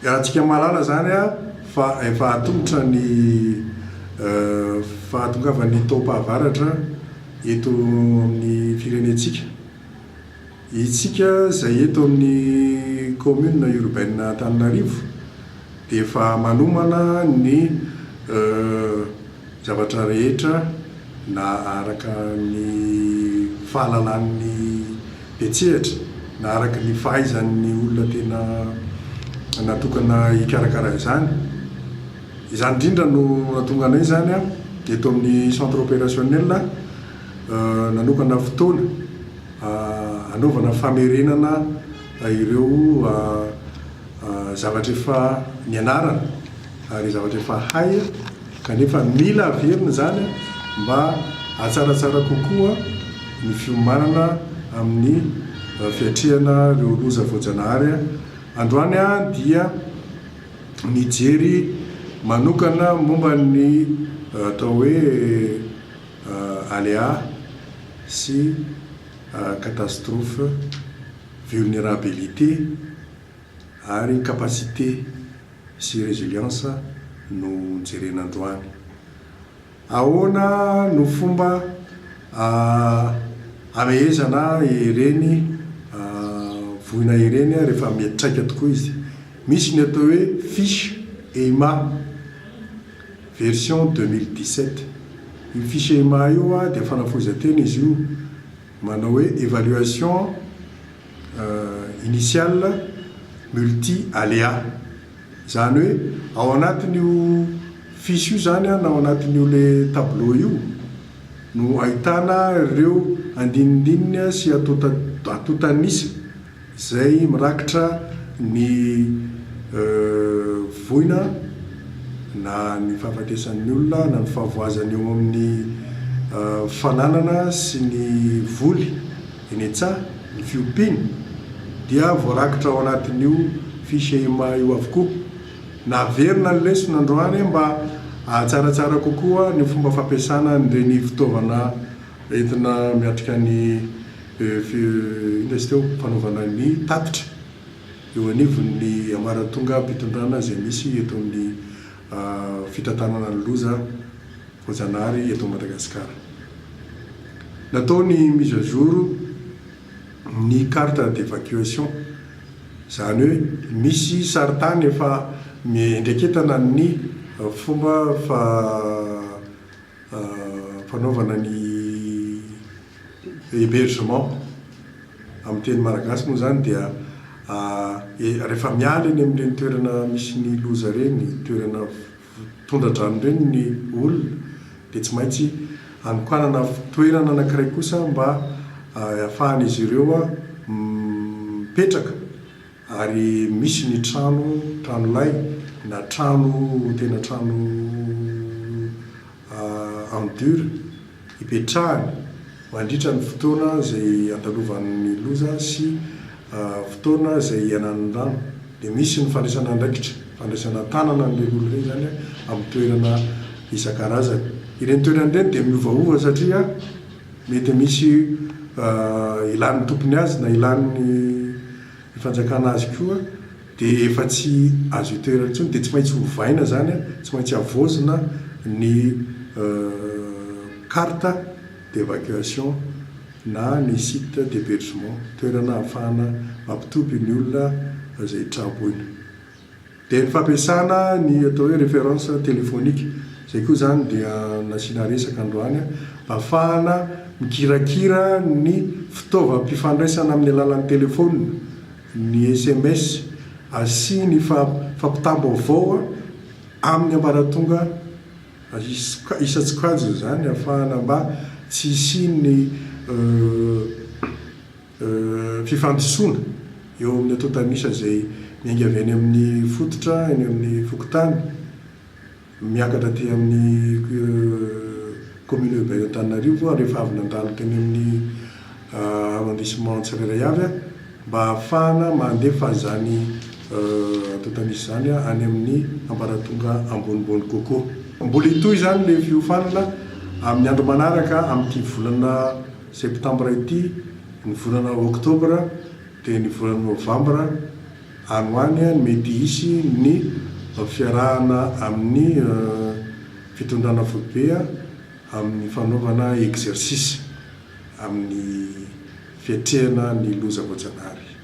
Iarahantsika mahalala izany fa efa atomotra ny fahatongavan'ny taom-pahavaratra eto amin'ny firenentsika. Isika izay eto amin'ny kaominina urbaine Antananarivo dia efa manomana ny. Zavatra rehetra na araka ny fahalalan'ny mpiantsehatra na araka ny fahaizan'ny olona tena natokana hikarakara izany. Izany indrindra no nahatonga anay izany eto amin'ny Centre Opérationnel nanokana fotoana hanaovana famerenana ireo zavatra efa nianarana ary zavatra efa hay. Kanefa mila averina izany mba hatsaratsara kokoa ny fiomanana amin'ny fiatrehana ireo loza voajanahary. Androany aho dia nijery manokana momba ny atao hoe aléa sy catastrophe, vulnerabilité ary capacité sy résilience no jerena androany. Ahoana no fomba hamehezana ireny voina ireny rehefa miantraika tokoa izy? Misy ny atao hoe fiche EIMA version deux mille dix-sept. Io fiche EIMA io dia fanafohezan-tena izy io. Manao hoe évaluation initiale multi aléa. Izany hoe ao anatin'io fiche io izany na ao anatin'io ilay tableau io no ahitana ireo andinindininy sy atotanisa. Izay mirakitra ny voina na ny fahafatesan'ny olona na ny fahavoazany eo amin'ny fananana sy ny voly eny an-tsaha, ny fiompiana, dia voarakitra ao anatin'io fiche emma io avokoa. Naverina ny lesona androany mba hahatsaratsara kokoa ny fomba fampiasana an'ireny fitaovana Entina miatrika ny inona izy teo? fanaovana ny tatitra eo anivon'ny ambaratonga-pitondrana izay misy eto amin'ny fitantanana ny loza voajanahary eto Madagasikara. Natao ny mise à jour ny carte d'evacuation, izany hoe misy sarin-tany efa miendreketana ny fomba fa fanaovana ny hebergement amin'ny teny malagasy moa izany dia rehefa miala eny amin'ireny toerana misy ny loza ireny, toerana tondradrano ireny ny olona dia tsy maintsy anokanana toerana anankiray kosa mba ahafahan'izy ireo mipetraka. Ary misy ny trano trano lay na trano tena trano en dur ipetrahany mandritra ny fotoana izay andalovany ny loza sy fotoana izay ialany ny rano. Dia misy ny fandraisana andraikitra, fandraisana an-tanana an'ireny olona ireny izany amin'ny toerana isan-karazany. Ireny toerana ireny dia miovaova satria mety misy ilan'ny tompony azy na ilan'ny Ny fanjakana azy koa dia efa tsy azo itoerana intsony dia tsy maintsy ovaina izany, tsy maintsy havaozina ny carte d'evacuation na ny site d'hebergement, toerana ahafahana mampitoby ny olona izay traboina. Dia ny fampiasana ny atao hoe référence téléphonique, izay koa izany dia nasiana resaka androany, mba hahafahana mikirakira ny fitaovam-pifandraisana amin'ny alalan'ny telefaonina, ny sms, sy ny fampitam-baovao amin'ny ambaratonga isan-tsokajiny izany, hahafahana mba tsy hisian'ny. fifandisoana eo amin'ny antontan'isa izay miainga avy any amin'ny fototra, eny amin'ny fokontany, miakatra aty amin'ny commune urbaine Antananarivo ary efa avy nandalo teny amin'ny arrondissement tsirairay avy mba hahafahana mandefa izany antontan'isa izany any amin'ny ambaratonga ambonimbony kokoa. Mbola hitohy izany ilay fiofanana amin'ny andro manaraka amin'ity volana. Septambra ity, ny volana oktobra dia ny volana novambra any ho any no mety hisy ny fiarahana amin'ny fitondrana foibe amin'ny fanaovana exercice amin'ny fiatrehana ny loza voajanahary.